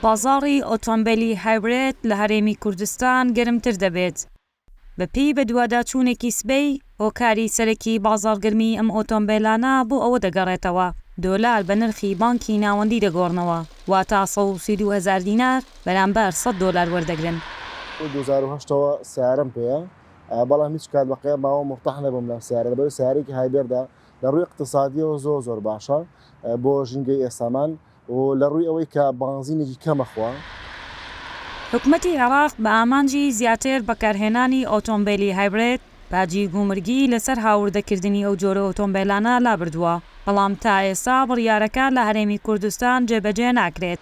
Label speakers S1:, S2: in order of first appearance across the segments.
S1: بازاڕی ئۆتۆمبێلی هایبرێد لە هەرێمی کوردستان گەرمتر دەبێت، بەپێی بەدواداچوونێکی سبەی، هۆکاری سەرەکی بازاڕگەرمیی ئەم ئۆتۆمبێلانە بۆ ئەوە دەگەڕێتەوە، دۆلار بە نرخی بانکی ناوەندی دەگۆڕنەوە، واتا سەد و سی و دوو هەزار دینار بەرامبەر سەد دۆلار وەردەگرن. لە دوو هەزار و هەشت
S2: ەوە سەیارەم پێیە، بەڵام هیچ کات بە قەیەم ماوەم مورتاح نەبووم لەم سەیارە، لەبەرئەوەی سەیارەیەکی هایبێردە، لە ڕووی ئیقتسادیەوە زۆر زۆر باشە بۆ ژینگەی ئێستامان و لە ڕووی ئەوەی کە بانزینێکی کەم ئەخوا.
S1: حکومەتی عێراق بە ئامانجی زیاتر بەکارهێنانی ئۆتۆمبێلی هایبرێد، باجی گومرگی لەسەر هاوردەکردنی ئەو جۆرە ئۆتۆمبێلانە لابردووە، بەڵام تا ئێستا بڕیارەکە لە هەرێمی کوردستان جێبەجێ ناکرێت.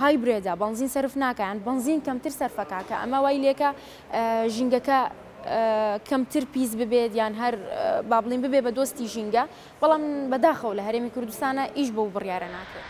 S3: هایبرێدە بەنزین سەرف ناکا یان بەنزین کەمتر سەرفەکا کە ئەمە وای لێکا ژینگەکە کەمتر پیس ببێت یان هەر بابلین ببێ بە دۆستی ژینگە بەڵام بەداخەوە لە هەرێمی کوردستانە ئیش بەو بڕیارە ناکرێت.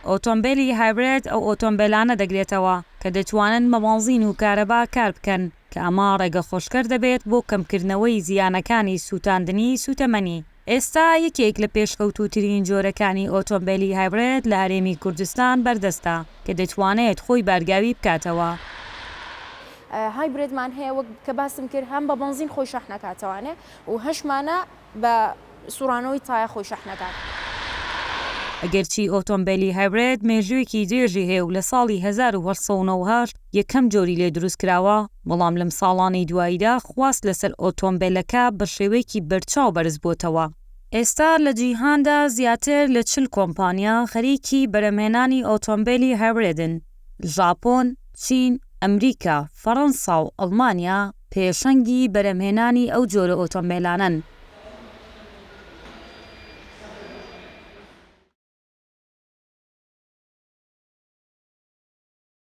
S1: ئۆتۆمبێلی هایبرێد ئەو ئۆتۆمبێلانە دەگرێتەوە کە دەتوانن بە بەنزین و کارەبا کار بکەن. کە ئەمە ڕێگەخۆشکەر دەبێت بۆ کەمکردنەوەی زیانەکانی سووتاندنی سووتەمەنی. ئێستا یەکێک لە پێشکەوتووترین جۆرەکانی ئۆتۆمبێلی هایبرێد لە هەرێمی کوردستان بەردەستە، کە دەتوانێت خۆی بارگاوی بکاتەوە. هایبرێدمان
S3: هەیە وەک کە باسم کرد هەم بە بەنزین خۆی شەحنەکاتەوانێ و هەشمانە. بە سوڕانەوەی تایە خۆی شەح نەکات.
S1: ئەگەرچی ئۆتۆمبێلی هایبرێد مێژوویەکی درێژی هەیە و لە ساڵی هەزار و هەشت سەد و نۆ و هەشت یەکەم جۆری لێ دروست کراوە، بەڵام لەم ساڵانەی دواییدا خواست لەسەر ئۆتۆمبێلەکە بە شێوەیەکی بەرچاو بەرز بۆتەوە. ئێستا لە جیهاندا زیاتر لە چل کۆمپانیا خەریکی بەرهەمهێنانی ئۆتۆمبێلی هایبرێدن. ژاپۆن، چین، ئەمریکا، فەڕەنسا و ئەڵمانیا پێشەنگی بەرهەمهێنانی ئەو جۆرە ئۆتۆمبێلانەن.